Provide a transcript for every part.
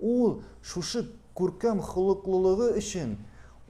Ул шушы күркәм холыклылыгы өчен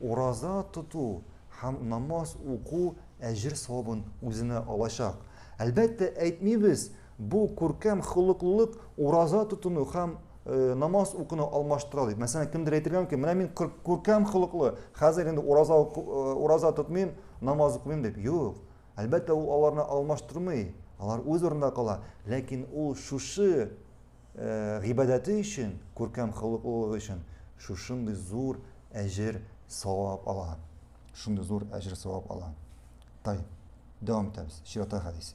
ураза тоту һәм намаз уку әҗер-савабын үзенә алачак. Әлбәттә, әйтмибез, бу күркәм холыклылык ураза тотуны һәм намаз укуны алмаштыра дип. Мәсәлән, кемдер әйтергә мөмкин, менә мин күркәм холыклы, хәзер инде ураза, ураза тотмыйм, намаз укымыйм дип. Юк. Әлбәттә, ул аларны алмаштырмый. Алар үз урынында кала. Ләкин ул шушы гыйбадәте өчен, күркәм холыклылыгы өчен шушындый зур әҗер савап ала. Шундый зур әҗер савап ала. Тай. Дәвам итәбез. Чирата хәдис.